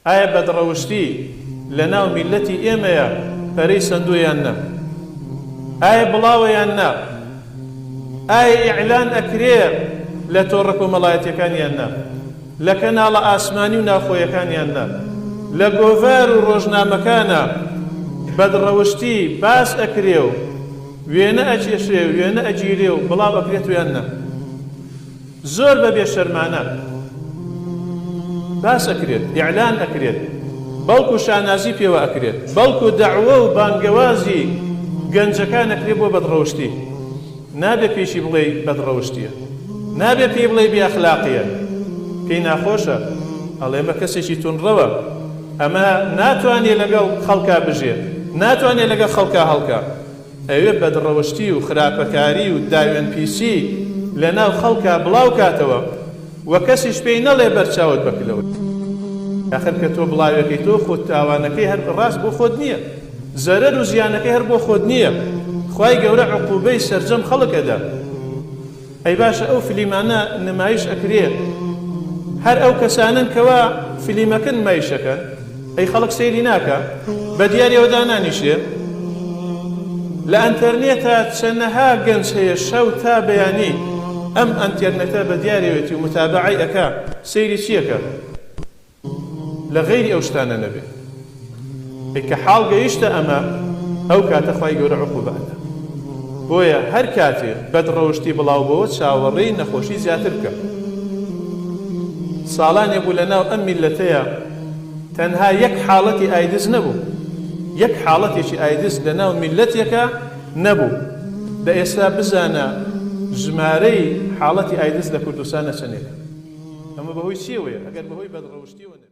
ئایا بەدڕەوشتی لەناو میللەتی ئێمەیە پەرەی سەندووە یان نا؟ ئایا بڵاوە یان نا؟ ئایا ئیعلان ئەکرێ لە تۆڕە کۆمەڵایەتیەکان یان نا؟ لە کەناڵە ئاسمانی و ناوخۆیەکان یان نا؟ لە گۆڤار و ڕۆژنامەکانا بەدڕەوشتی باس ئەکرێ و وێنە ئەکێشرێ و وێنە ئەگیرێ و بڵاو ئەکرێتوە یان نا؟ زۆر بە بێ شەرمانە باس ئەکرێت ئیعلان ئەکرێت بەڵکو شانازی پێوە ئەکرێت بەڵکو دەعوە و بانگەوازی گەنجەکان ئەکرێت بۆ بەدڕەوشتی نابێت پێیشی بڵێی بەدڕەوشتیە نابێت پێی بڵێی بێ ئەخلاقیە پێی ناخۆشە ئەڵێ ئەمە کەسێکی تونڕەوە ئەمە ناتوانێت لەگەڵ خەڵکا بژێت ناتوانێت لەگەڵ خەڵکا هەڵکا ئەوێ بەدڕەوشتی و خراپەکاری و داوێنپیسی لە ناو خەڵکا بڵاو کاتەوە و کەسیش پێی نەڵێ بەر چاوت بە کلەوەی ئاخر کە تۆ بڵاوێکەیتەوە خۆ تاوانەکەی هەر ڕاست بۆ خۆت نییە زەرەر و زیانەکەی هەر بۆ خۆت نییە خوای گەورە عقوبەی سەرجەم خەڵک ئەدا. ئەی باشە ئەو فلیمانە نمایش ئەکرێن هەر ئەو کەسانەن کەوا فلیمەکە نمایش ئەکەن ئەی خەڵک سەیری ناکا بەدیاریەوە دانانیشێ لە ئەنتەرنێتا چەنەها گەنج هەیە شەو تا بەیانی ئەم ئەنتێرنێتە بەدیارەوێتی و متابەعەی ئەکا سەیری چیەکا. لە غەیری ئەو شتانە نەبێ ئێ کە حاڵ گەیشتە ئەمە ئەو کاتە خوای گەورە عقوبە ئەدا بۆیە هەر کاتێ بەد ڕەوشتی بڵاو بۆوە چاوەڕێی نەخۆشی زیاتر بکە ساڵانێ بوو لە ناو ئەم میللەتەیا تەنها یەک حاڵەتی ئایدز نەبوو یەک حاڵەتێکی ئایدز لە ناو میللەتێکا نەبوو، دە ئێستا بزانە ژمارەی حاڵەتی ئایدز لە کوردستان نە چەنێکە؟ ئەمە بە هۆی چیەوەیە؟ ئەگەر بە هۆی بەدڕەوشتیەوە نەبێت.